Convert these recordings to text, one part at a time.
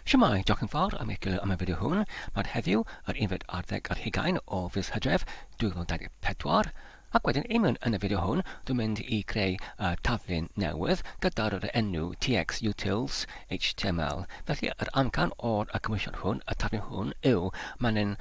Shwmae, diolch yn fawr am eich am y fideo hwn. Mae'r heddiw, yr unfed ar ddeg ar hugain o fis Hydref 2024, ac wedyn union yn y fideo hwn, dwi'n mynd i greu y taflen newydd gyda'r yr enw TX Utils HTML. Felly, yr amcan o'r y cymwysiad hwn, y taflen hwn, yw mae'n yn,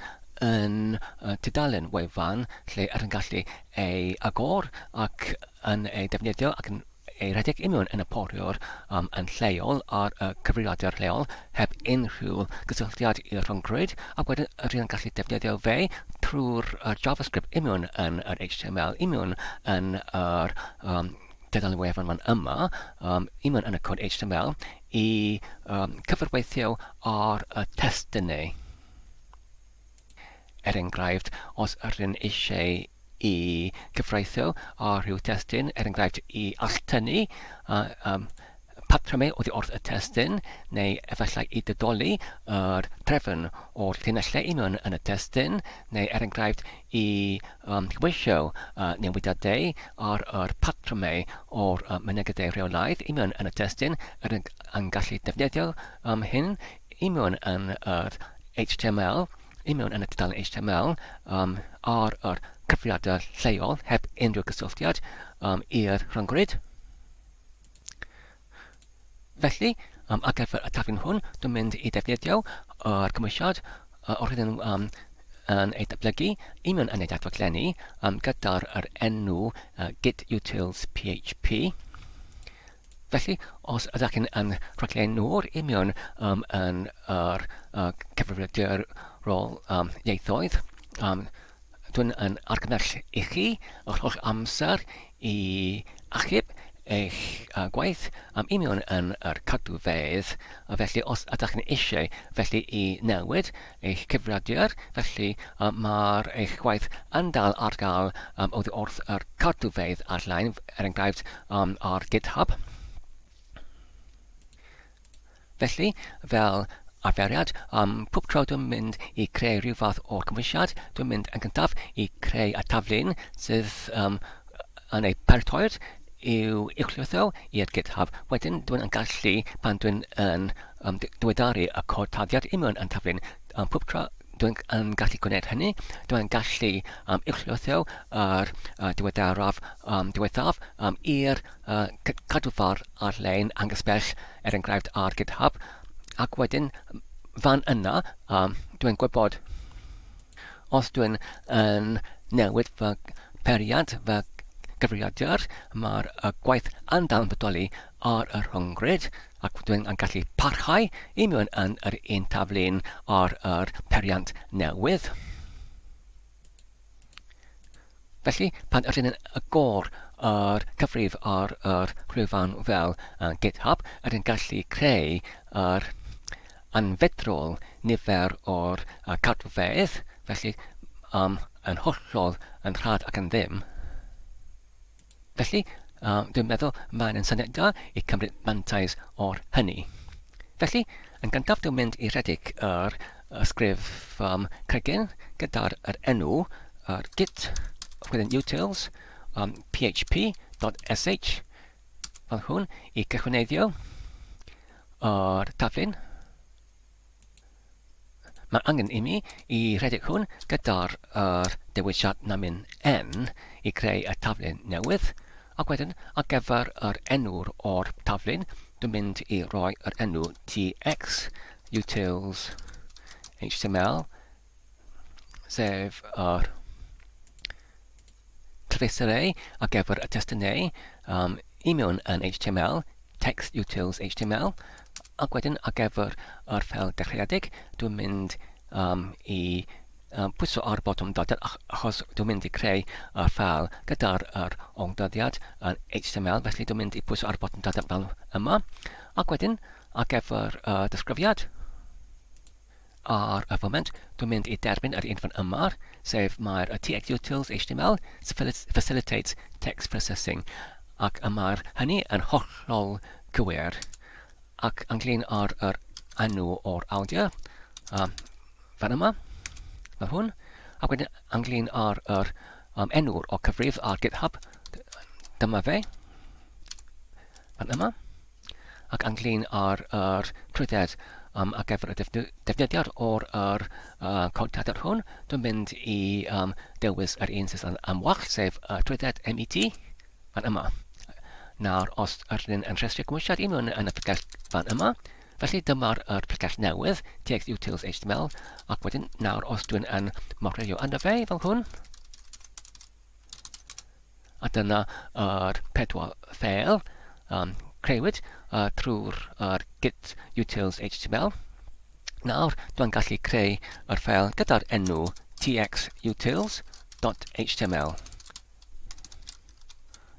yn y tudalen wefan lle yr yn gallu ei agor ac yn ei defnyddio ac yn ei rhedeg union yn y poriwr um, yn lleol ar y cyfrifiadur lleol heb unrhyw gysylltiad i'r rhyngrwyd a wedyn rydyn gallu defnyddio fe trwy'r uh, JavaScript union yn yr HTML union yn yr um, dedan wefan fan yma, um, union yn y cod HTML, i um, cyfrweithio ar y testunau. Er enghraifft, os ydym eisiau i gyfreithiol ar rhyw destun, er enghraifft i alltynnu patrymau oddi wrth y testun, neu efallai i ddidoli yr trefn o'r llinellau union yn y testun, neu er enghraifft i gyfoesio newidiadau ar yr patrymau o'r mynegiadau rheolaidd union yn y testun, rydym yn gallu defnyddio hyn i mewn yn yr HTML, i mewn yn y tudalen HTML um, ar yr cyfriadau lleol heb unrhyw gysylltiad um, i'r rhyngrwyd. Felly, um, ar gyfer y taflen hwn, dwi'n mynd i defnyddio yr cymwysiad uh, o'r hyn um, yn ei datblygu i mewn yn ei datblygu um, gyda'r enw uh, git utils php. Felly, os ydych chi'n yn rhaglennu'r union um, yn yr uh, cyfrifiadur rôl um, ieithoedd, um, dwi'n yn argymell i chi yr holl amser i achub eich uh, gwaith am union yn yr cadwfedd. Felly, os ydych chi'n eisiau felly i newid eich cyfrifiadur, felly mae'r eich gwaith yn dal ar gael oddi wrth yr cadwfeydd ar-lein, er enghraifft ar GitHub. Felly, fel arferiad, pob tro dwi'n mynd i creu rhyw fath o gymwysiad, dwi'n mynd yn gyntaf i creu y taflun sydd yn ei paratoi'r i'w uwchlwytho i'r GitHub. Wedyn, dwi'n yn gallu, pan dwi'n yn am ddiweddaru y cod tarddiad union yn Taflyn a phob tro dwi'n yn gallu gwneud hynny, dwi'n gallu um, uwchlwytho ar uh, diweddaraf um, diwethaf um, i'r uh, cadwfar ar-lein angysbell, er enghraifft ar GitHub, ac wedyn fan yna um, dwi'n gwybod os dwi'n yn newid fy periad, fy gyfrifiadur, mae'r uh, gwaith yn dal yn bodoli ar y rhyngrwyd ac fod yn gallu parhau i mewn yn yr un taflen ar yr periant newydd. Felly, pan ydyn yn agor yr cyfrif ar yr rhwyfan fel uh, GitHub, ydyn gallu creu yr anfedrol nifer o'r uh, cadwfeydd, felly um, yn hollol yn rhad ac yn ddim. Felly, uh, dwi'n meddwl mae'n yn syniad da i cymryd mantais o'r hynny. Felly, yn gyntaf dwi'n mynd i redeg yr ysgrif um, cregyn gyda'r er enw yr git wedyn utils um, php.sh fel hwn i cychwyneiddio yr taflun Mae angen imi i redeg hwn gyda'r yr dewisiad namin n i greu y taflen newydd, ac wedyn ar gyfer yr enw'r o'r taflen dwi'n mynd i roi yr enw tx utils html sef yr trace array ar gyfer y testyn neu um, i mewn yn HTML, text utils HTML, ac wedyn ar gyfer yr ffel dechreuedig, dwi'n mynd um, i um, pwyso ar botwm dyddiad achos dwi'n mynd i creu y ffel gyda'r er o'n dyddiad yn HTML, felly dwi'n mynd i pwyso ar botwm dyddiad fel yma, ac wedyn ar gyfer y uh, disgrifiad, Ar y foment, dwi'n mynd i derbyn yr un fan yma, sef mae'r TXUtils html facilitates text processing, ac y mae'r hynny yn hollol gywir. Ac ynglyn ar yr enw o'r awdur, um, fan yma, mae hwn. Ac wedyn ynglyn ar yr um, enw'r o cyfrif ar GitHub, dyma fe, fan yma. ac ynglŷn â'r yr trwydded um, ar gyfer y defnyddiad o'r yr, uh, cod cadr hwn, dwi'n mynd i um, dewis yr un sydd am wall, sef uh, trwydded MET, fan yma. Nawr, os yr un yn rhestru gwmwisiad i mewn yn y pregell fan yma, felly dyma'r er pregell newydd, TX Utils HTML, ac wedyn nawr os dwi'n yn morfeiddio yna fe fel hwn, A dyna yr pedwar ffeil a creuwyd trwy'r git utils html. Nawr dw i'n gallu creu yr ffeil gyda'r enw txutils.html.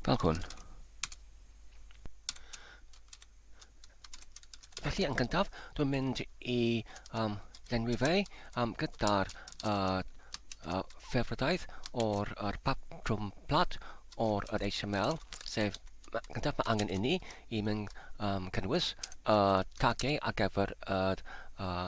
Fel hwn. Felly yn gyntaf, dwi'n mynd i um, lenwi fe um, gyda'r uh, uh, ffefrydaeth o'r uh, patrwm plat o'r uh, HTML, sef gyntaf mae angen inni i mynd um, cynnwys y uh, tagiau ar gyfer y uh, uh,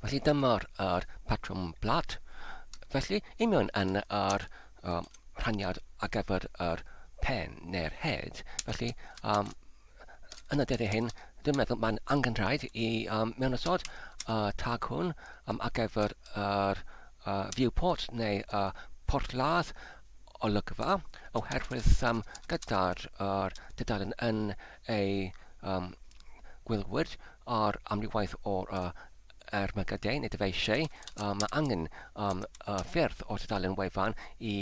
Felly dyma'r er patrwm plat. Felly, i mewn yn yr um, rhaniad ar gyfer yr pen neu'r head. Felly, um, yn y dyddiau hyn, dwi'n meddwl mae'n angen rhaid i um, mewn ysod y uh, tag hwn um, ar gyfer yr uh, viewport neu uh, porthladd olygfa oherwydd um, gyda'r er, dydalen yn ei um, gwylwyr ar amrywaeth o uh, ermygydau neu dyfeisiau, uh, mae angen um, uh, ffyrdd o tudalen wefan i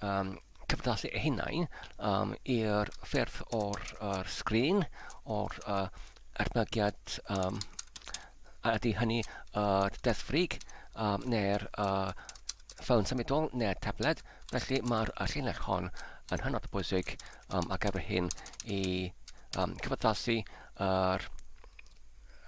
um, cyfdallu eu hunain um, i'r ffyrdd o'r uh, sgrin, o'r uh, ermygiad um, a ydy hynny y uh, deddfrig um, neu'r uh, ffôn symudol neu'r tabled, felly mae'r uh, llinell hon yn hynod o bwysig um, ar gyfer hyn i um, cyfaddasu yr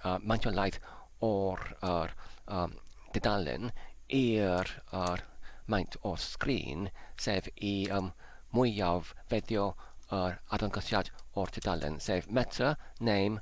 uh, maentiolaeth o'r er, um, dudalen i'r er, maint o sgrin, sef i um, mwyaf feddio yr er, adlangosiad o'r dudalen, sef meta, name,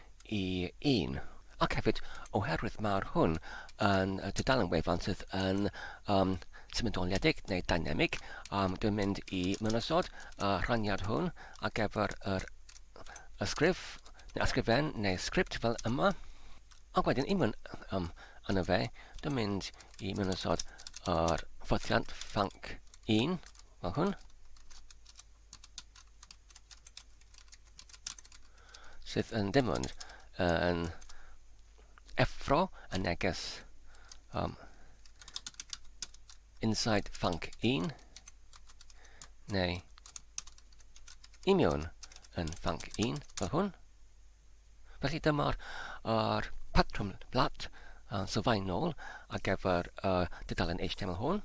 i un, ac hefyd oherwydd mae'r hwn yn tudalen wefan sydd yn um, symudoliedig neu dynamig, um, dwi'n mynd i mynosod y rhaniad hwn ar gyfer yr ysgrif, neu ysgrifen neu sgript fel yma, ac wedyn i mynd um, yna fe, dwi'n mynd i mynosod yr ffothiant ffanc 1 fel hwn, sydd yn dim ond uh, yn effro y neges um, inside func 1 neu i mewn yn func 1 fel hwn. Felly dyma'r er patrwm blat uh, sylfaenol ar gyfer y uh, dudalen HTML hwn.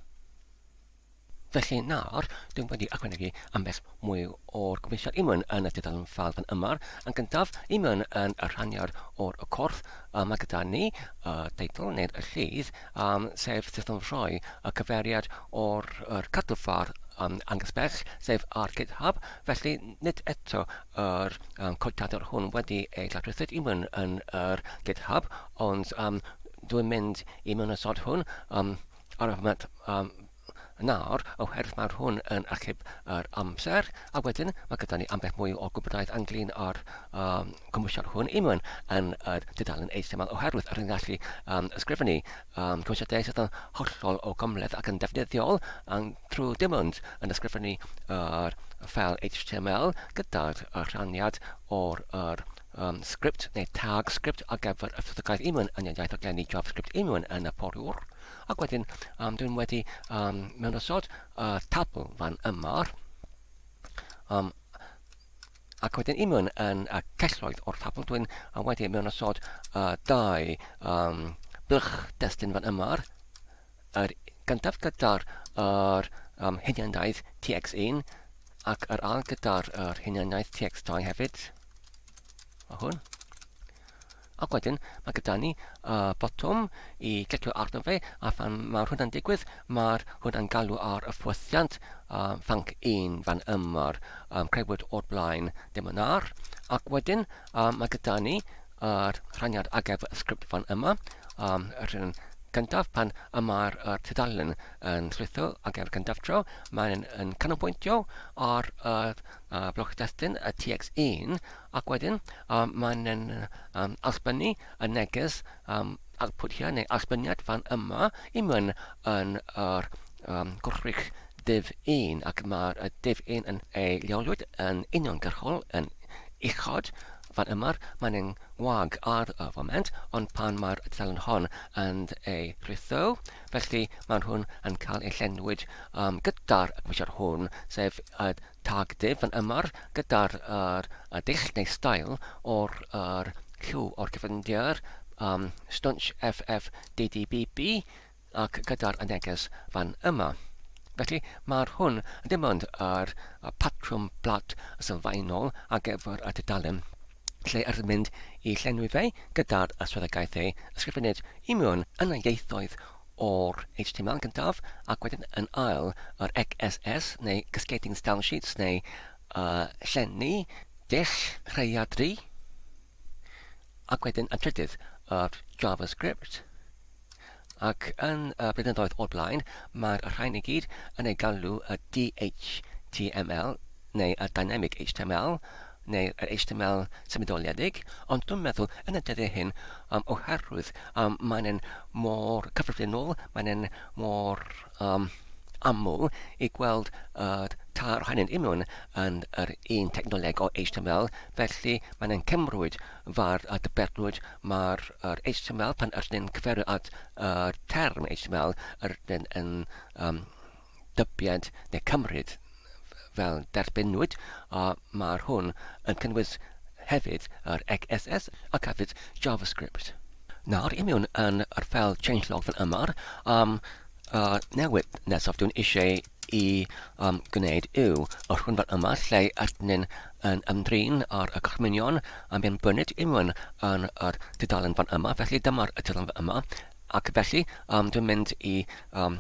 Felly nawr, dwi wedi ychwanegu ambell mwy o'r gweithio i mewn yn y tudalen ffal fan yma. Yn gyntaf, i mewn yn y rhaniad o'r y corff, a mae gyda ni y teitl neu'r y llid, um, sef sut o'n rhoi y cyfeiriad o'r yr cadw ffar um, angysbell, sef ar GitHub, felly nid eto yr um, codiadwr hwn wedi ei llawryfed i mewn yn yr GitHub, ond um, dwi'n mynd i mewn y sod hwn, um, Arwyneb, Yym, nawr, oherwydd mae'r hwn yn achub yr amser, a wedyn mae gyda ni ambell mwy o gwybodaeth anglyn ar um, cymwysiad hwn i mewn yn yr dudalen eithaf yma, oherwydd yr yn gallu um, ysgrifennu um, cymwysiadau sydd yn hollol o gymleth ac yn defnyddiol um, trwy dim ond yn ysgrifennu yr uh, ffel HTML gyda'r uh, rhaniad o'r uh, um, sgript neu tag sgript ar gyfer y ffisegaidd unwyn yn y iaith aglenni JavaScript unwyn yn y poriwr. Ac wedyn, um, dwi'n wedi um, mewn osod y uh, tabl fan yma. Um, ac wedyn unwyn yn y celloedd o'r tabl, dwi'n uh, wedi mewn osod y uh, dau um, blwch destun fan yma. Yr un gyntaf gyda'r yr um, huniandaeth TX1 ac yr ail gyda'r yr huniandaeth TX2 hefyd. Mae hwn. Ac wedyn mae gyda ni uh, botwm i glicio arno fe a phan mae'r hwnna'n digwydd mae'r hwnna'n galw ar y ffwythiant uh, fanc 1 fan ymor um, creuwyd o'r blaen ddim yn ar ac wedyn uh, mae gyda ni yr rhaniad ar gyfer y sgript fan yma, um, y rhan gyntaf pan y mae'r er tudalen yn llwytho ar gyfer cyntaf tro, mae'n yn canolbwyntio ar yr uh, bloc destun y TX1 ac wedyn um, mae'n yn um, allbynnu y neges um, output here neu allbyniad fan yma i mewn yn yr um, gwrthrych div 1 ac mae'r div 1 yn ei leoliwyd yn uniongyrchol yn uchod Fan yma mae'n yn wag ar y foment, ond pan mae'r tudalen hon yn ei ritho, felly maen nhw'n yn cael eu llenwyd um, gyda'r cwisiwr hwn, sef y tag div fan yma, gyda'r er, y dull neu stael o'r er, lliw o'r cyfyndiad, um, stwnsh FFDDBB, ac gyda'r neges fan yma. Felly, mae'r hwn ddim ond yr patrwm blat sylfaenol ar gyfer y tudalen lle yr mynd i llenwi fe gyda'r swyddogaeth ei ysgrifennid i mewn yn y ieithoedd o'r HTML gyntaf ac wedyn yn ail yr XSS neu Cascading Style Sheets neu uh, llenni dull rhaeadru ac wedyn yn trydydd yr JavaScript. Ac yn y blynyddoedd o'r blaen, mae'r rhain i gyd yn ei galw y DHTML, neu y Dynamic HTML, neu yr HTML symudoliedig, ond dwi'n meddwl yn y dyddiau hyn, um, oherwydd um, maen nhw'n mor cyffredinol, maen nhw'n mor um, aml i gweld y uh, tair ohonyn nhw yn yr un technoleg o HTML, felly maen nhw'n cymrwyd Fath a dybernwyd, mae'r XML, pan ydyn ni'n cyfeirio at y term XML, rydyn yn um, dybied neu cymryd fel derbynwyd, a mae'r hwn yn cynnwys hefyd yr XSS ac hefyd JavaScript. Nawr, i mewn yn yr fel changelog fel yma, am y newid nesaf dwi'n eisiau i um, gwneud yw y rhwymfa yma lle ydyn yn ymdrin ar y gorchmynion a mae'n byned iwn yn yr tudalen fan yma, felly dyma'r tudalen fan yma, ac felly um, dwi'n mynd i um,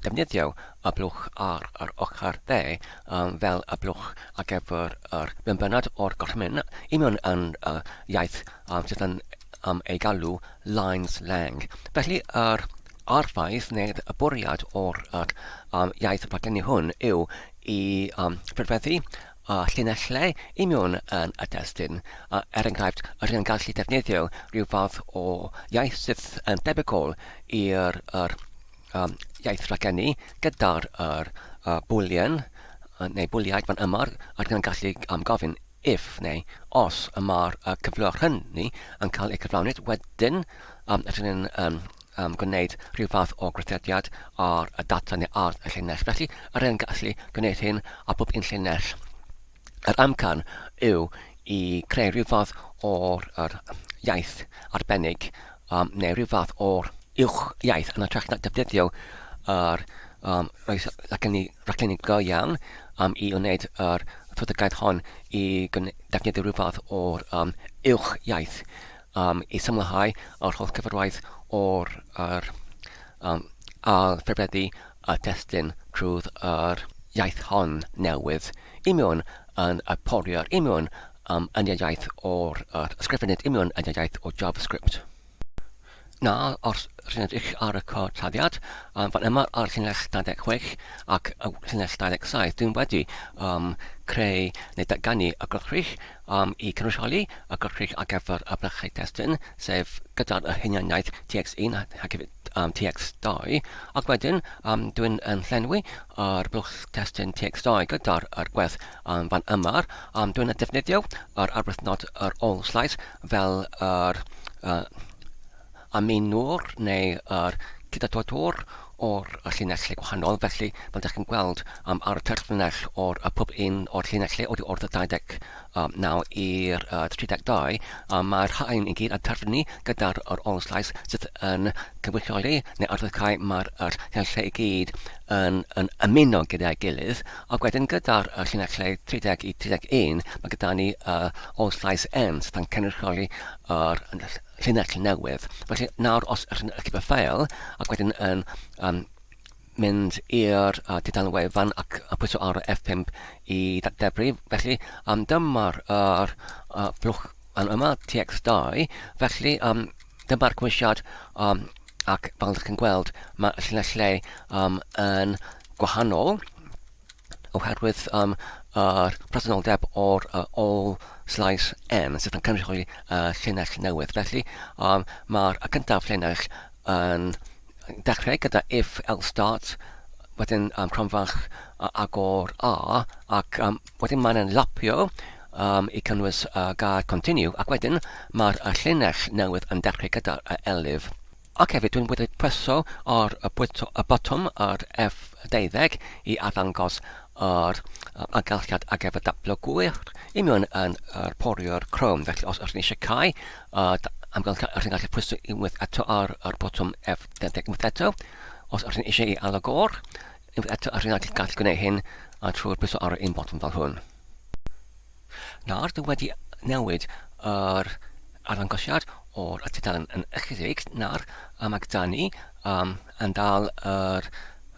defnyddio y blwch ar yr ochr dde um, fel y blwch ar gyfer yr benbynad o'r gorchmyn i mewn yn uh, iaith um, sydd yn um, ei galw lines lang. Felly yr A'r ffaith neu'r bwriad o'r um, iaith y partneri hwn yw i um, ffurfeddu a llinellau i mewn yn y destun. A, er enghraifft, yr hyn yn gallu defnyddio rhyw fath o iaith sydd yn debygol i'r er, um, iaith rhagennu gyda'r er, uh, bwlien neu bwliaid fan yma, yr hyn yn gallu um, gofyn if neu os y mae'r y cyfleoedd hynny yn cael eu cyflawni, wedyn um, ydyn ni'n um, um, gwneud rhyw fath o grytediad ar y data neu ar y llinell. Felly, yr un gallu gwneud hyn a bob un llinell. Yr amcan yw i creu rhyw fath o'r yr iaith arbennig um, neu rhyw fath o'r uwch iaith yn y trech na defnyddio yr um, roes ac yn ni Rhaglen go iawn um, i wneud yr strategaeth hon i defnyddio rhyw fath o'r um, uwch iaith um, i symlhau yr holl gyfarwaith o'r er, um, ail ffefreddu a thestyn trwy'r er, iaith hon newydd i mewn yn y porier i mewn um, yn iaith o'r er, ysgrifennydd i mewn yn iaith o JavaScript. Na, os rhyn ydych ar y cytaddiad, um, fan yma ar llinell 26 ac llinell 27, dwi'n wedi um, creu neu datganu y gwrthrych um, i cynrychioli y gwrthrych ar gyfer y blychau testun, sef gyda'r y hunianiaeth TX1 ac hefyd um, TX2, ac wedyn um, dwi'n yn llenwi yr blwch testun TX2 gyda'r gwerth Yn fan yma, am dwyn a defnyddio yr arwythnod yr ôl-slais fel yr uh, ameinwr neu yr cydadodwr o'r llinellau gwahanol. Felly, fel ydych chi'n gweld, um, ar y terfynell o'r uh, pob un o'r llinellau oddi wrth y 29 i'r uh, 32, um, mae'r rhain i gyd yn terfynu gyda'r yr ôl-slais sydd yn cynrychioli neu arwyddocau mae'r llinellau i gyd yn, yn ymuno gyda'i gilydd Ac wedyn gyda'r y llinell lle 30 i 31 mae gyda ni y All Llais Ends pan cynrychioli yr llinell newydd. Felly nawr os ydych chi'n archifio ffeil ac wedyn yn um, mynd i'r uh, tudalen wefan ac a pwyso ar y F5 i ddadebru. Felly, um, dyma'r er, uh, blwch yn yma, TX2. Felly, um, dyma'r cwisiad um, ac fel ydych chi'n gweld mae y llinell lle um, yn gwahanol oherwydd um, yr presenoldeb o'r uh, all slice n sydd yn cynrychioli uh, llinell newydd. Felly um, mae'r y cyntaf llinell yn dechrau gyda if else start, wedyn um, cronfach uh, agor a ac um, Wedyn mae'n yn lapio um, i cynnwys uh, gair continue ac wedyn mae'r uh, llinell newydd yn dechrau gyda'r uh, elif. Ac hefyd dwi'n wedi preso ar y, bwyto, y botwm ar F12 i arddangos yr uh, agalchiad ar gyfer dablo gwyr i mewn yn yr uh, porio'r Chrome. Felly os ydych chi eisiau cael uh, amgylchiad, ydych chi'n gallu pwyso unwaith eto ar yr botwm F12 unwaith eto. Os ydych chi eisiau i alw gor, Unwaith eto yr hyn a ti'n gallu gwneud hyn a trwy'r pwyso ar un botwm fel hwn. Nawr dwi wedi newid yr arddangosiad o'r tudalen yn ychydig. Nawr um, mae gyda ni um, yn dal yr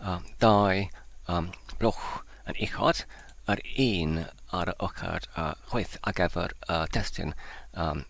um, dau um, blwch yn uchod, yr un ar y ochr uh, chwaith ar gyfer y uh, testyn um,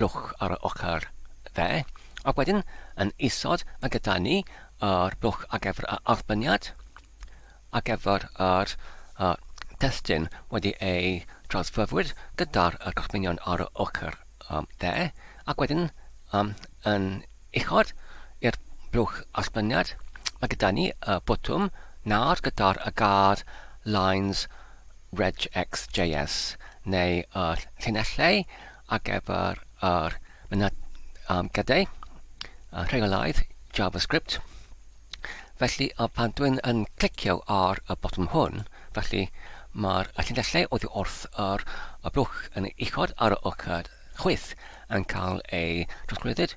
blwch ar yr ochr dde, ac wedyn yn isod a gyda ni yr blwch ar gyfer yr arweiniad, ar gyfer yr testun wedi ei drawsfyfwyr gyda'r gorchmynion ar yr ochr dde, ac wedyn yn uchod i'r blwch arweiniad, mae gyda ni y botwm nawr gyda'r gad lines regxjs neu y llinellau ar gyfer yr mynediadau a rheolaidd JavaScript. Felly, a pan dwi'n yn clicio ar y botwm hwn, felly mae'r llinellau oddi wrth yr y blwch yn uchod ar y ochr chwith yn cael ei drosglwyddyd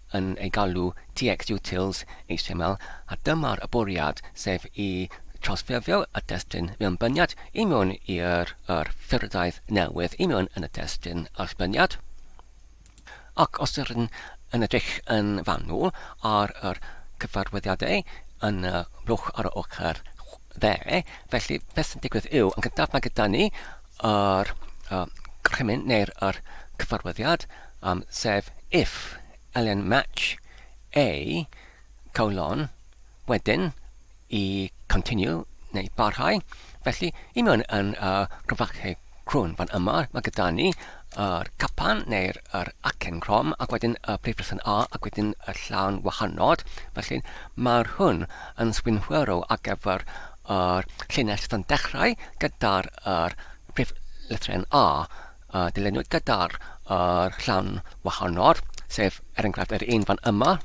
yn ei galw TXUtils XML a dyma'r bwriad, sef i trawsffurfio y testun mewn byniad i mewn i'r yr ffurfddaith newydd i mewn yn y testun allbyniad. Ac os yr yn yn edrych yn fanwl ar yr cyfarwyddiadau yn y blwch ar yr ochr dde, felly beth sy'n digwydd yw, yn gyntaf mae gyda ni yr uh, crymyn neu'r yr cyfarwyddiad, am sef if ln match a colon wedyn i continue neu barhau, felly i mewn yn y grafacheg crwn fan yma mae gyda ni yr capan neu'r yr acen crom ac wedyn y prif person A ac wedyn y llawn wahanod, felly mae'r hwn yn swynhwyrw ar gyfer yr llinell sydd yn dechrau gyda'r yr prif lythren A. a dilynwyd gyda'r uh, rhan wahanol, sef er enghraifft yr un fan yma,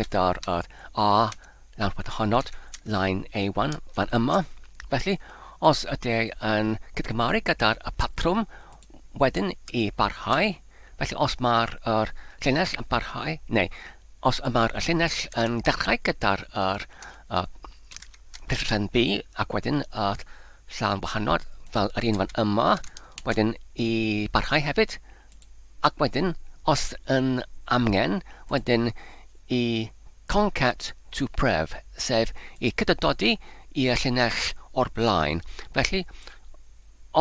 gyda'r uh, A lawr pat honod, line A1 fan yma. Felly, os ydy yn cydgymaru gyda'r y patrwm wedyn i barhau, felly os mae'r er, llinell yn barhau, neu os yma'r llinell yn dechrau gyda'r er, uh, dilllen B ac wedyn uh, Llawn wahanol fel yr un fan yma, wedyn i barhau hefyd, ac wedyn, os yn amgen, wedyn i concat to pref, sef i cydydodi i'r llinell o'r blaen. Felly,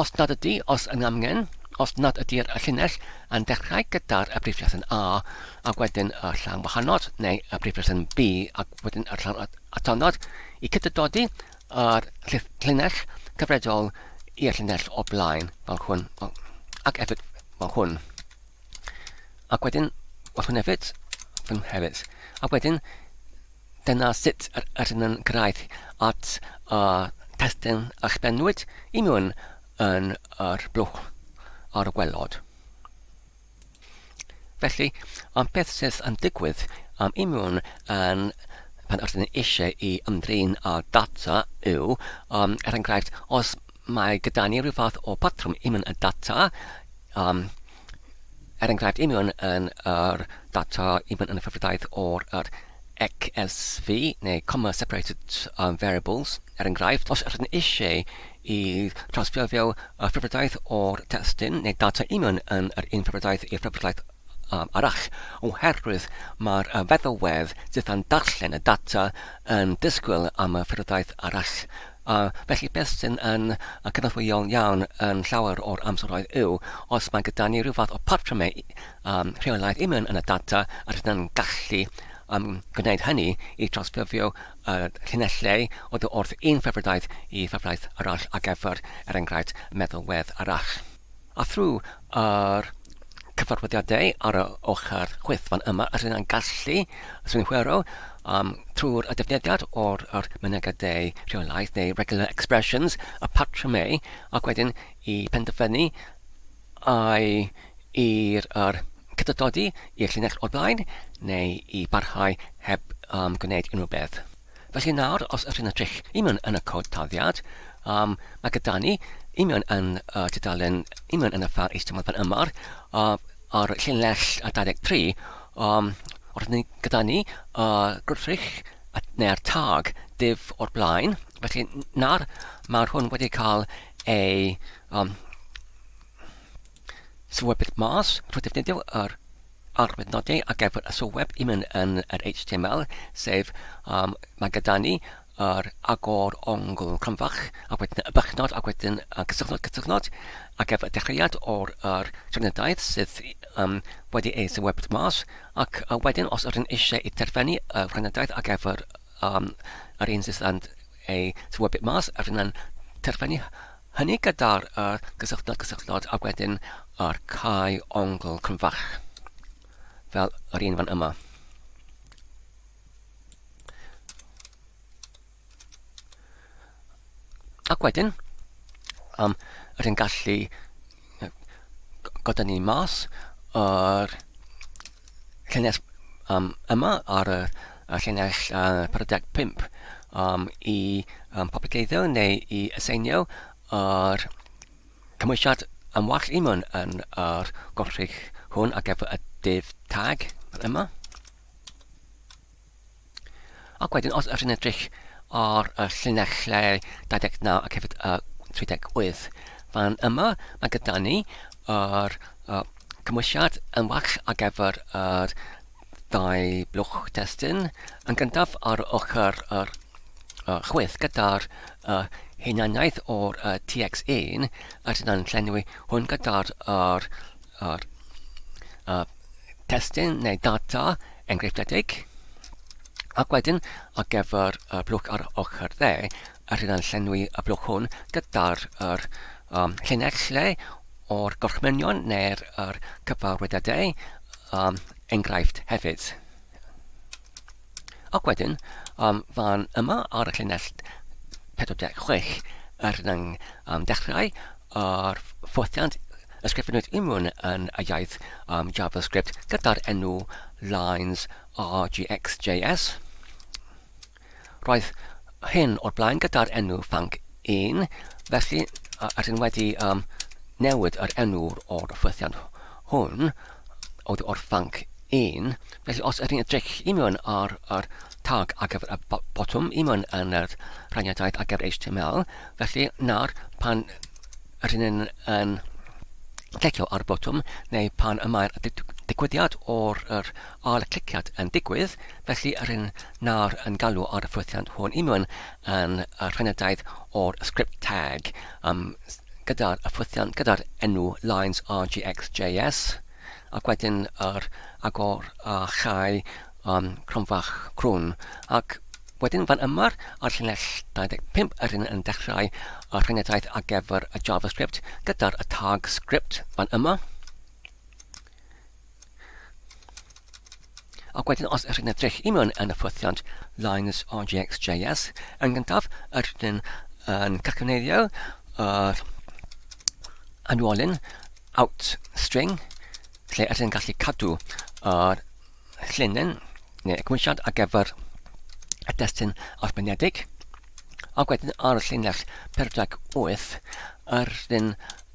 os nad ydy, os yn amgen, os nad ydy'r llinell yn dechrau gyda'r y brif lesson A ac wedyn y llawn wahanol neu y brif lesson B ac wedyn y llawn atonod i cydydodi a'r llinell cyfredol i'r llinell o blaen, fel hwn, ac hefyd fel hwn. Ac wedyn, fel hwn hefyd, fel hwn hefyd. Ac wedyn, dyna sut yr ydyn yn cyrraedd at y testyn a chbennwyd i mewn yn yr blwch ar y gwelod. Felly, am beth sydd yn digwydd am imiwn yn pan ydyn ni eisiau i ymdrin â data yw, um, er enghraifft, os mae gyda ni rhyw fath o patrwm imiwn y data, um, er enghraifft imiwn yn yr data imiwn yn y ffefrydaeth o'r yr XSV neu comma separated um, variables, er enghraifft, os ydyn ni eisiau y trawsffurfio y ffurfdraeth o'r testun neu data union yn yr un ffurfdraeth i'r ffurfdraeth arall, oherwydd mae'r feddalwedd sydd yn darllen y data yn disgwyl am y ffurfdraeth arall, a felly beth sydd yn cynorthwyol iawn yn llawer o'r amseroedd yw os mae gyda ni rhyw fath o patrymau rheolaidd union yn y data a rydyn yn gallu gwneud hynny i drawsffurfio y llinellau o dy wrth un ffefrydaeth i ffefrydaeth arall ar gyfer, er enghraifft, meddalwedd arall. A thrwy yr cyfarwyddiadau ar y ochr chwith fan yma yr hyn gallu synhwyro um, trwy'r y defnyddiad o'r yr mynegiadau rheolaidd neu regular expressions, y patrymau, ac wedyn i penderfynu ai i'r yr cydoddi i'r llinell o'r blaen, neu i barhau heb um, gwneud unrhyw beth. Felly nawr, os ydych chi'n edrych i mewn yn y cod taddiad, um, mae gyda ni i mewn yn y tudalen, i mewn yn y ffar eistymod fan yma, uh, ar llinell 23, um, o'r ni, gyda ni y gwrthrych neu'r tag div o'r blaen. Felly nawr, mae hwn wedi cael ei um, sylwebyd mas trwy defnyddio yr arwydd nodi ar gyfer y sylweb i mynd yn yr HTML, sef um, mae gyda ni yr agor ongl cronfach, a wedyn y bychnod, a wedyn y cysylltnod cysylltnod, a gyfer y dechreuad o'r er, trefnydaeth sydd um, wedi ei sylwebyd mas, ac uh, wedyn os ydyn eisiau i terfynu y trefnydaeth ar gyfer um, yr un sydd yn ei thywodpeth mas ac yna'n terfynu hynny gyda'r yr gysylltod cysylltod ac wedyn yr cae ongl cryfach fel yr un fan yma. Ac wedyn, um, yr yn gallu goda ni mas yr cynnes um, yma ar y llinell uh, 45 um, i um, poblogeiddio neu i aseinio ar cymwysiad am wall imwn yn yr golchig hwn ar gyfer y div tag yma. Ac wedyn, os ydych chi'n edrych ar y llinell lle 29 ac hefyd y 38, fan yma mae gyda ni yr uh, cymwysiad yn well ar gyfer yr dau blwch testyn. Yn gyntaf ar ochr yr uh, chwith gyda'r uh, hunaniaeth o'r uh, TX1, a dyna'n llenwi hwn gyda'r uh, Ar uh, testun neu data enghreifftiedig, ac wedyn ar gyfer y blwch ar ochr dde, a rydyn llenwi y blwch hwn gyda'r er, um, llinell lle o'r gorchmynion neu'r er, cyfarwyddydau um, enghraifft hefyd. Ac wedyn, um, fan yma ar y llinell 46, er yng um, dechrau ar ffothiant ysgrifennwyd Immwn yn y iaith um, JavaScript gyda'r enw lines rgxjs. Roedd hyn o'r blaen gyda'r enw fanc 1, felly rydyn wedi um, newid yr enw o'r ffothiant hwn oddi o'r fanc un. Felly os ydych chi'n edrych i mewn ar yr tag ar gyfer y botwm i mewn yn yr rhaniadaeth ar gyfer HTML, felly nawr pan rydyn ni'n yn clicio ar y botwm neu pan y mae'r digwyddiad o'r yr ail cliciad yn digwydd, felly rydyn nawr yn galw ar y ffwythiant hwn i mewn yn y rhaniadaeth o'r script tag. Um, gyda'r ffwythiant gyda'r enw Lines RGXJS ac wedyn yr agor a chau um, cronfach crwn ac wedyn fan yma ar llinell 25 yr hyn yn dechrau y rhagnedraeth ar gyfer y JavaScript gyda'r y tag script fan yma Ac wedyn os ydych chi'n edrych i mewn yn y ffwythiant lines RGXJS, yn gyntaf ydych yn, yn cacyneiddio yr anwolyn out string lle ydych yn gallu cadw yr llinyn neu y cymwysiad ar gyfer y destun arbenedig. Ac wedyn ar y llinell 48 ydych yn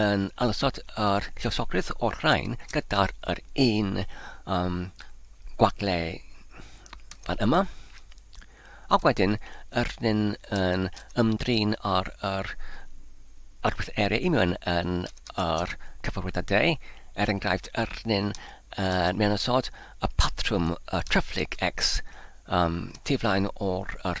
yn anosod yr llywosogrwydd o'r rhain gyda'r yr un um, gwagle fan yma. Ac wedyn, yr rhywun yn ymdrin ar yr arwyth area i mewn yn yr cyfarwydd a deu, er enghraifft, yr rhywun yn mewn ysod y patrwm y trefflig X um, tu flaen o'r yr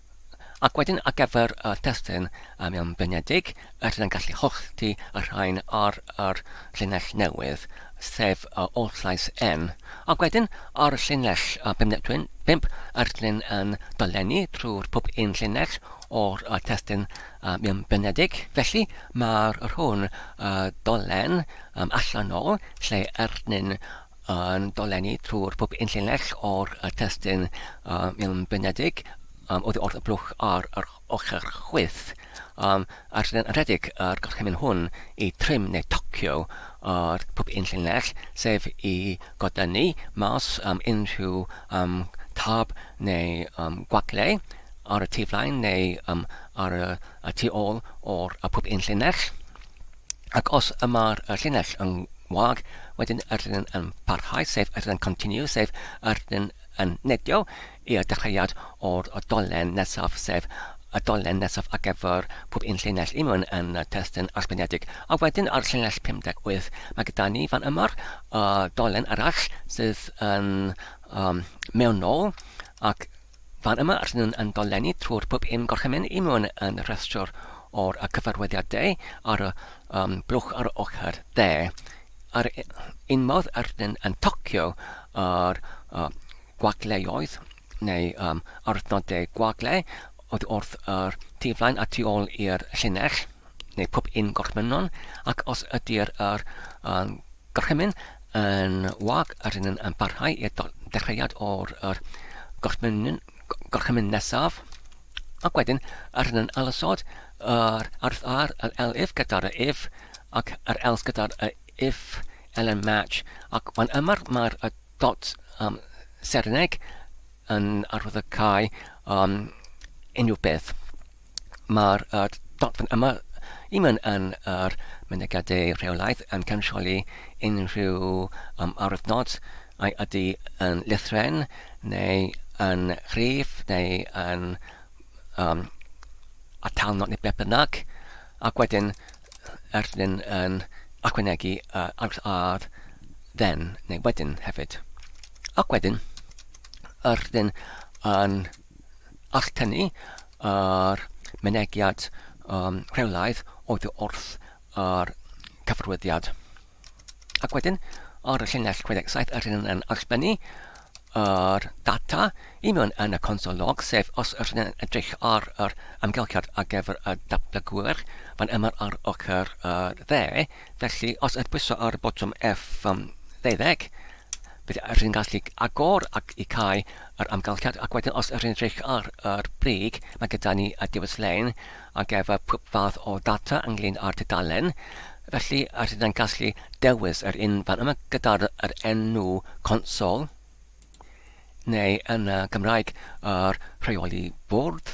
Ac wedyn ar gyfer y testun am yn blinedig, rydyn yn gallu hollti y rhain ar yr llinell newydd, sef y oll llais N. Ac wedyn ar y llinell bump, rydyn yn dolenni trwy'r pob un llinell o'r testun am yn blinedig. Felly mae'r rhwn dolen allanol lle rydyn yn dolenni trwy'r pwp yn llinell o'r testun milfeunedig oddi wrth y blwch ar yr ochr chwith. Ar syniad yn rhedeg yr gorchymyn hwn i trim neu tocio yr pwp yn llinell, sef i godynnu mas unrhyw tab neu gwagle ar y tu flaen neu ar y tu ôl o'r pwp yn llinell. Ac os y mae'r y llinell yn wag, wedyn yr llinell yn parhau, sef yr llinell continue, sef yr llinell yn nedio i'r dechreuad o'r y dolen nesaf, sef y dolen nesaf ar gyfer pob un llinell i mewn yn y testun allbyniedig. A wedyn ar llinell 58, mae gyda ni fan yma'r y dolen arall sydd yn um, mewnol ac Fan yma rydyn nhw'n yn dolenni trwy'r pwp i'm gorchymyn i mewn yn rhestr o'r y cyfarwyddiadau ar y um, blwch ar y ochr dde. Ar un modd rydyn yn tocio ar uh, gwagleoedd neu um, aruthnodau gwagle oedd wrth yr tu flaen a tu ôl i'r llinell. neu pob un gorchmynon, ac os ydy'r yr, um, gorchymyn yn wag, rydyn yn, yn parhau i'r dechreuad o'r yr, gorchmyn, gorchymyn nesaf, ac wedyn rydyn yn alasod yr arth ar yr elif gyda'r if ac yr else gyda'r if elen match, ac fan yma mae'r dot um, serineg yn arwydd y cae um, unrhyw beth. Mae'r dogfen yma i mewn yn yr mynegiadau rheolaidd yn cansioli unrhyw um, arwyddnod a'i ydy yn lythren neu yn rhif neu yn um, atalnod neu beth bynnag ac wedyn er dyn yn ychwanegu uh, arwydd ar then neu wedyn hefyd. Ac wedyn, yr ydyn yn All tynnu yr mynegiad um, rheolaidd oddi wrth yr cyfarwyddiad. Ac wedyn, ar y llinell 67, yr hyn yn allbynnu yr data i mewn yn y consol log, sef os yr hyn yn edrych ar yr amgylchiad ar gyfer y datblygwyr fan yma ar ochr y dde. Felly, os ydych bwyso ar y botwm F12, bydd yr hyn yn gallu agor ac i cael yr amgylchedd ac wedyn os ydyn edrych ar yr brig mae gyda ni y diwys lein ar gyfer pob fath o ddata ynglyn â'r tudalen felly yr hyn yn gallu dewis yr un fan yma gyda'r yr enw consol neu yn y Gymraeg yr rheoli bwrdd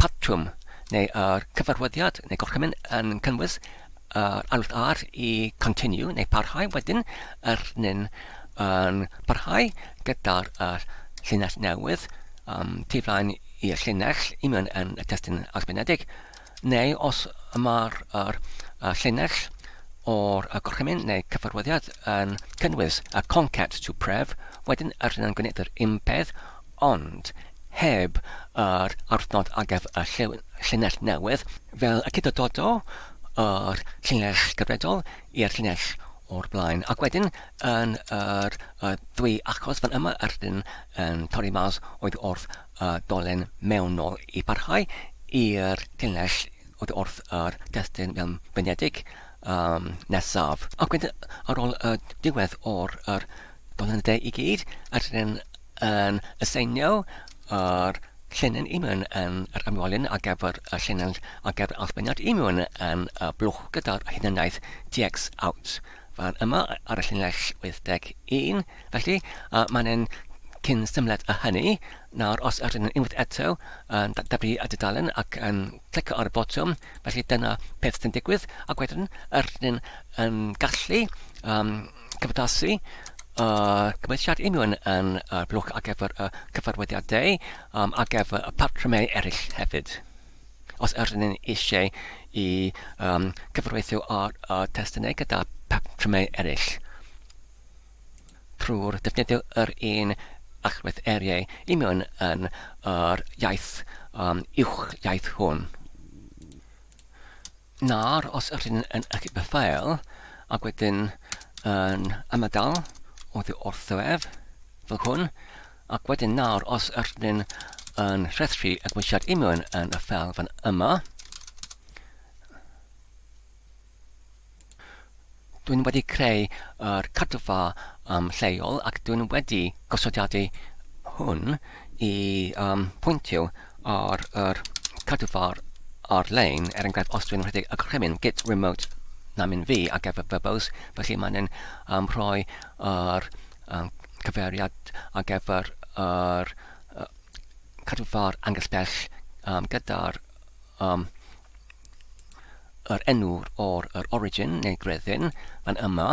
patrwm neu ar gyfarwyddiad neu gorchymyn yn cynnwys yr ail ar i continue neu parhau wedyn yr nyn yn parhau gyda'r llinell newydd um, tu flaen i'r llinell i mewn yn y testyn ysgrifenedig neu os mae'r er, er, llinell o'r gorchymyn neu cyfarwyddiad yn cynnwys y concat to pref wedyn yr hyn yn gwneud yr unpeth ond heb yr adnodd a gaf y llinell newydd, fel y cydydodo yr llinell gyfredol i'r llinell o'r blaen, ac wedyn yn yr y ddwy achos fan yma yr un yn torri mas oedd wrth y dolen mewnol i barhau i'r llinell oedd wrth yr testun fel mynedig um, nesaf. Ac wedyn ar ôl y diwedd o'r yr dolen y de i gyd, yr un yn aseinio yr llinyn imiwn yn yr ymwelyn ar gyfer y llinyn ar gyfer allbeniad imiwn yn y blwch gyda'r hunaniaeth dx out fan yma ar y llinell 81. Felly, uh, mae'n ein cyn symled â hynny. Nawr, os yr yn unwaith eto yn dyblu y dudalen ac yn clicio ar y botwm, felly dyna peth sy'n digwydd, ac wedyn yr yn gallu um, cymdeithasu a cymhelliad union yn y blwch ar gyfer y cyfarwyddiadau um, ar gyfer y patrymau eraill hefyd. Os ydyn ni eisiau i um, cyfreithio ar y testunau gyda patrymau eraill, trwy'r defnyddio yr un allwedd eriau union yn yr iaith um, uwch iaith hwn. Nawr, os ydych chi'n yn achub y ffeil ac wedyn yn ymadael oddi wrtho ef, fel hwn, ac wedyn nawr, os ydych chi'n yn rhestru adweisiad union yn y ffeil fan yma, Dwi'n wedi creu yr cadfa um, lleol ac dwi'n wedi gosodiadu hwn i um, pwyntio ar yr cadfa'r ar-lein, er enghraifft os dwi'n rhedeg y gorchymyn git remote na mynd fi ar gyfer Verbose, felly mae'n yn um, rhoi yr um, cyfeiriad ar gyfer yr uh, cadwfa'r angell bell um, gyda'r um, yr enw o'r yr origin neu greddyn fan yma.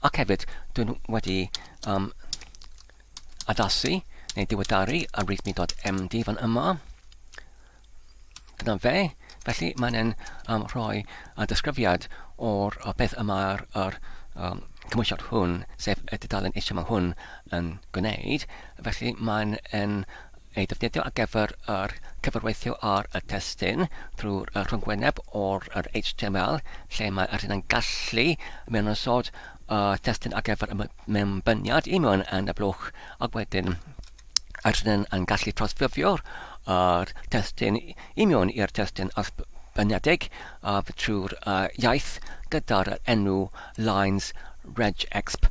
Ac hefyd, dwi'n wedi um, addasu neu diweddaru ar readme.md fan yma. Dyna fe. Felly mae'n um, rhoi uh, disgrifiad o'r uh, beth y mae'r er, um, cymwysiad hwn, sef y dudalen eisiau mae hwn yn gwneud. Felly mae'n ei ddefnyddio ar gyfer yr cyfrweithio ar y testun drwy'r rhyngwyneb o'r HTML lle mae yr hyn yn gallu mynynsod y testun ar gyfer y mewnbyniad i mewn yn y blwch ac wedyn yr hyn yn gallu trawsffurfio'r yr testun i mewn i'r testun allbyniedig trwy'r iaith gyda'r enw lines regexp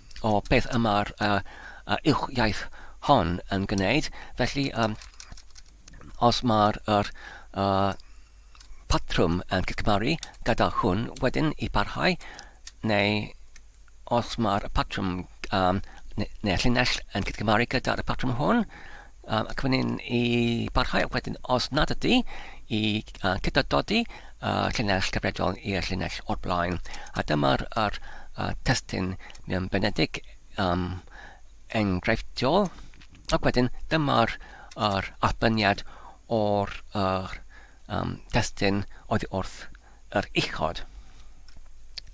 o beth y mae'r uh, uh, uwch iaith hon yn gwneud. Felly, um, os mae'r er, uh, patrwm yn cygmaru gyda hwn wedyn i barhau, neu os mae'r patrwm um, neu'r llinell yn cygmaru gyda'r patrwm hwn, Um, ac wedyn i barhau, ac wedyn os nad ydy, i uh, cydadodi uh, llinell gyfredol i'r llinell o'r blaen. A dyma'r er, uh, testyn mewn benedig um, enghreifftiol. Ac wedyn dyma'r er, allbyniad o'r er, um, testyn oedd wrth yr uchod.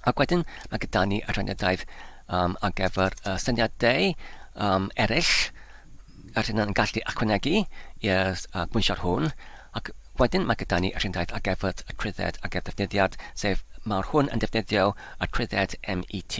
Ac wedyn mae gyda ni adroddiadaeth um, ar gyfer y syniadau um, eraill yr hyn yn gallu ychwanegu i'r uh, gwynsio'r hwn. Ac wedyn mae gyda ni adroddiadaeth ar gyfer y trwydded ar gyfer defnyddiad, sef mae'r hwn yn defnyddio y trwydded MET.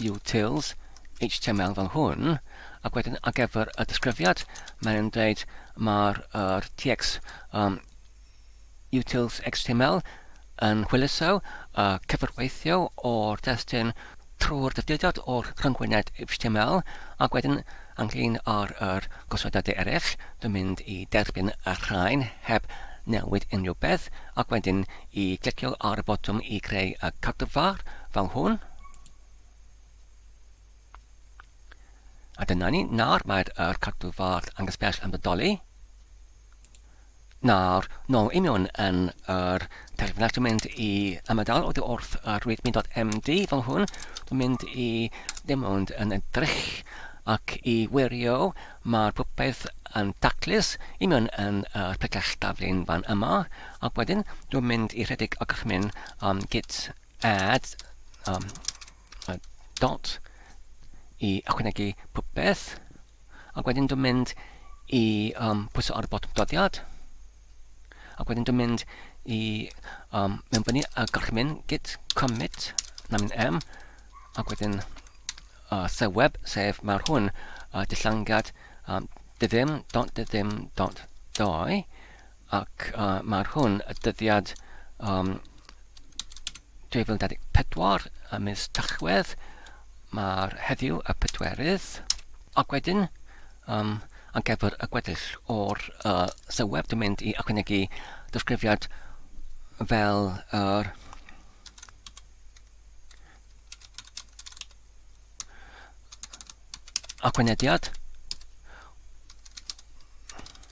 utils HTML fel hwn, ac wedyn ar gyfer y disgrifiad, mae'n yn dweud mae'r er, TX um, utils HTML yn hwyluso uh, cyfarweithio o'r destun trwy'r dyfodiad o'r rhyngwyned HTML ac wedyn ynglyn ar yr gosodadau eraill, dwi'n mynd i derbyn y rhain heb newid unrhyw beth ac wedyn i glicio ar y botwm i greu y cadwfar fel hwn. A dyna ni, nawr mae'r er cadw ffordd angysbell yn bodoli. Nawr, nôl i mewn yn yr terfynach, dwi'n mynd i ymadael o dy wrth yr readme.md fel hwn. Dwi'n mynd i ddim ond yn edrych ac i wirio mae'r popeth yn taclus i mewn yn yr pellach daflun fan yma. Ac wedyn, dwi'n mynd i rhedeg ac rhmyn am gyd add um, a dot i ychwanegu popeth ac wedyn dwi'n mynd i um, pwyso ar y botwm doddiad ac wedyn dwi'n mynd i um, mewn fyny a gorchymyn git commit na mynd m ac wedyn uh, seweb sef mae'r hwn uh, dillangad um, dydym dot dydym dot doi Ac mae'r hwn y dyddiad um, 2024 y mis Tachwedd, mae'r heddiw y pedwerydd, ac wedyn um, ar gyfer y gweddill o'r uh, syweb dwi'n mynd i ychwanegu disgrifiad fel yr uh, Aquanediad.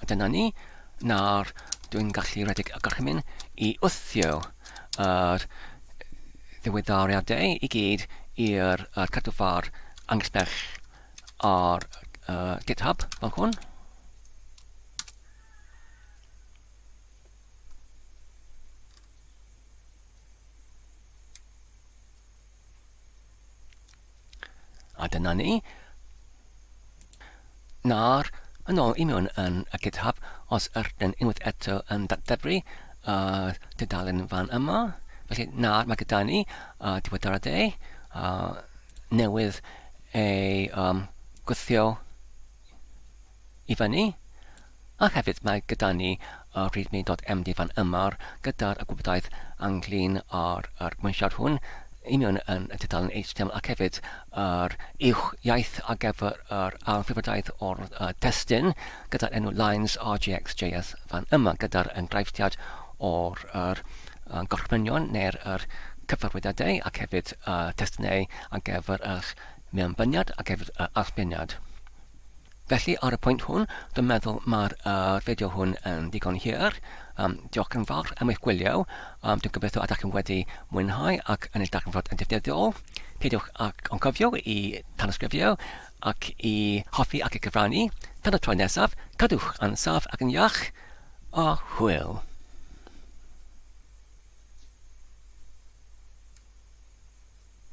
A dyna ni, nawr dwi'n gallu rhedeg y gorchymyn i wthio yr ddiweddariadau i gyd i'r uh, cadw ffordd angesbell ar uh, GitHub fel hwn. A dyna ni. Nawr, yn ôl i mewn yn y GitHub, os ydyn unwaith eto yn datblygu y dudalen fan yma, felly nawr mae gyda ni uh, diweddaradau uh, newydd ei um, gwthio i fyny, a hefyd mae gyda ni y readme.md fan yma gyda'r y gwybodaeth ynglyn â'r yr gwensiad hwn i mewn yn y tudalen HTML ac hefyd yr uwch iaith ar gyfer yr anffurfiadaeth o'r y testyn gyda'r enw lines rjxjs fan yma gyda'r enghreifftiad o'r yr y gorchmynion neu'r yr cyfarwyddiadau ac hefyd y testunau ar gyfer eich mewnbyniad ac hefyd y allbeniad. Felly, ar y pwynt hwn, dwi'n meddwl mae'r uh, fideo hwn yn ddigon hir. Um, diolch yn fawr am eich gwylio. Um, dwi'n gobeithio ydych chi'n wedi mwynhau ac yn ei darganfod yn defnyddiol. Peidiwch ac o'n cofio i tanysgrifio ac i hoffi ac i gyfrannu. Tan y tro nesaf, cadwch yn saf ac yn iach, a hwyl!